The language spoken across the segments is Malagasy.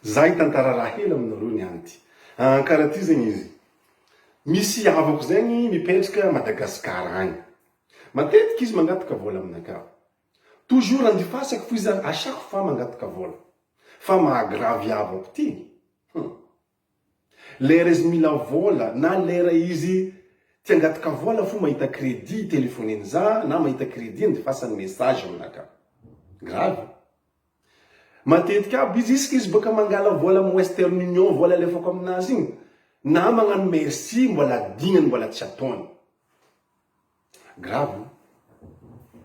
Za hitantara raha hely aminareo ny anty. Ah, karaha ty zegny izy. Misy havako zegny mipetraka Madagascar agny. Matetiky izy mangataka vola aminakà. Toujours andifasako fo izy zany à chaque fois mangataka vola. Fa maha gravy havako ty. Hum. Lera izy mila vola na lera izy tsy angataka vola fo mahita credit telefoniny za na mahita credit andefasany message aminaka. Grave e. Matetika aby izy isaka izy baka mangala vola am western union vola alefako aminazy igny na magnano merci mbola adignany mbola tsy ataony. Grave o!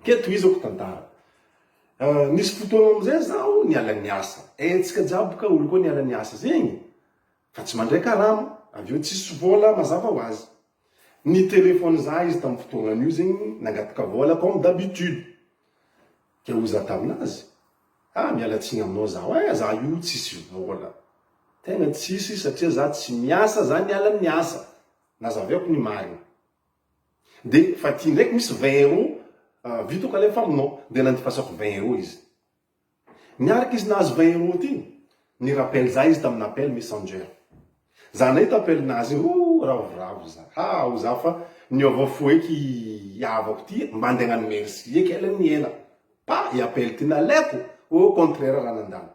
Ke tohizako tantara. Nisy fotoana amizay zaho niala niasa. Haintsika jiaby ka olo koa niala niasa zegny fa tsy mandray karama, avy eo tsisy vola mazava ho azy. Ni telephone za izy tam fotoagnanio zegny nangataka vola comme d'habitude. Ke hoy za taminazy, ah miala tsigny aminao zaho eh, za io tsisy vola. Tegna tsisy satria za tsy miasa, za niala niasa. Nazaveako ni marigny. De fa ty ndraiky misy vingt euros ah, vito ka le famonao, de nandipasako vingt euros izy. Niaraka izy nahazo vingt euros ty, ni rappel za izy tamina appel messenger. Za nahita appel nazy iny, oh ravoravo za, ha ho za fa niova fo eky i havako ty mba nde nano merci eky ela ni ela, pa i appel ty nalaiko, oh contraire raha nandalo.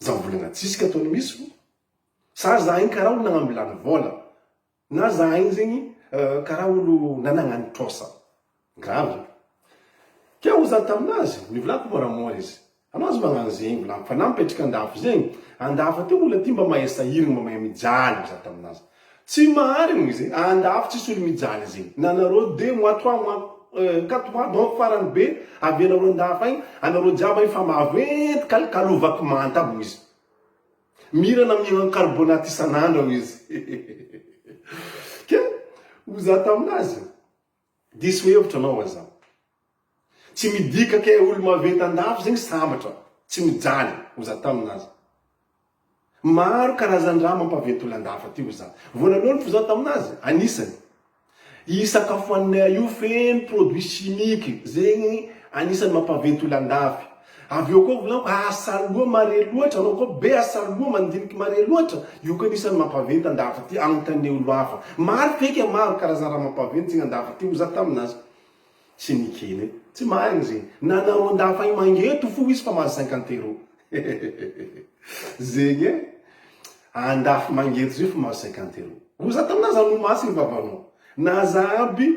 Zao volana tsiska tony misy vo sa za igny karaha olo nagnambilany vola na za igny zegny karaha olo nanagnany trosa grave Keo ozy za taminazy nivolako mora mora izy anao aza magnano zegny volako fa na mipetraka andafy zegny andafy aty olo aty mba mahay sahiragna mba mahay mijaly ozy za taminazy Tsy maharigno izy e, andafy tsisy olo mijaly izy na nareo de moi toi moi ka toi donc farany be avy anareo andafy agny anareo jiaby agny fa maventy kalokalo vaky manta aby hoizy mirana mihinan carbonate isanandro hoizy hehehehe ke hoza taminazy Diso hevitra anao va za. Tsy midika ke olo maventy andafy zegny sambatra tsy mijaly oza tamina aza. Maro karazandraha mampaventy olo andafy aty oza. Voalalohany fo za tamina azy anisany i sakafo haninay io feno produit chimique zegny anisany mampaventy olo andafy. Avy eo koa volako asa loha mare loatra anao koa be asa loha mandiniky mare loatra io koa anisan'ny mampaventy andafy ty anontaneo lava maro feky a maro karazana raha mampaventy zegny andafy ty hoy za taminazy tsy nikene tsy marigny zegny nanao andafy agny mangeto fo izy fa mahazo cinquante euro zegny e andafy mangeto zay fa mahazo cinquante euro hoy za taminazy anomasigny vavanao na za aby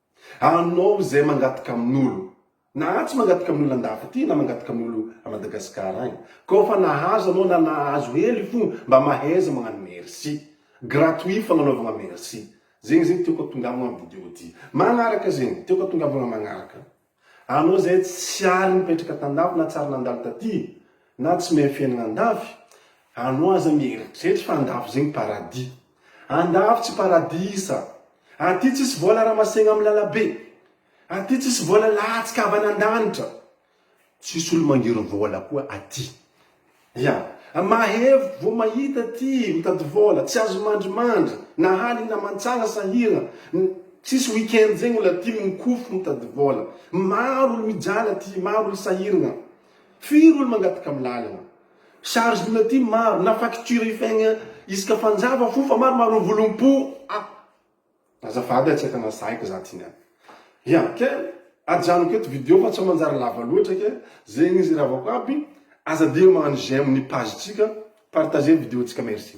Anao izay mangataka amin'olo na tsy mangataka amin'olo andafy aty na mangataka amin'olo a Madagascar agny koa fa nahazo anao na nahazo hely fôgna mba mahaiza magnano merci gratuit fagnanaovagna merci zegny zegny tiako atongavagna am video ty magnaraka zegny tiako atongavagna magnaraka. Anao izay tsy aly nipetraka tandafy na tsy ary nandalo taty na tsy mahay fiainana andafy, anao aza mieritreritra fa andafy zegny paradis. Andafy tsy paradisa. Aty tsisy vola ramasegna amin'ny lalabe. Aty tsisy vola latsaka avy an'Andanitra. Tsisy olo mangery vola koa aty. Ya. Mahery vo mahita ty mitady vola, tsy azo mandrimandry, na haly na mantsana sahira, tsisy week-end zegny ola ty mikofo mitady vola. Maro olo mijala ty, maro olo sahirgna. Firy olo mangataka am lalagna. Charge ola ty maro, na facture ifaigna isaka fanjava fo fa maro maro mivolom-po a. Azafady a tsy efa nazahiko za ty niany. Ya ke ajanoko eto video fa sao manjary lava loatra ke zegny izy ravako aby aza digno magnano j'aime ny page tsika partager ny video tsika merci.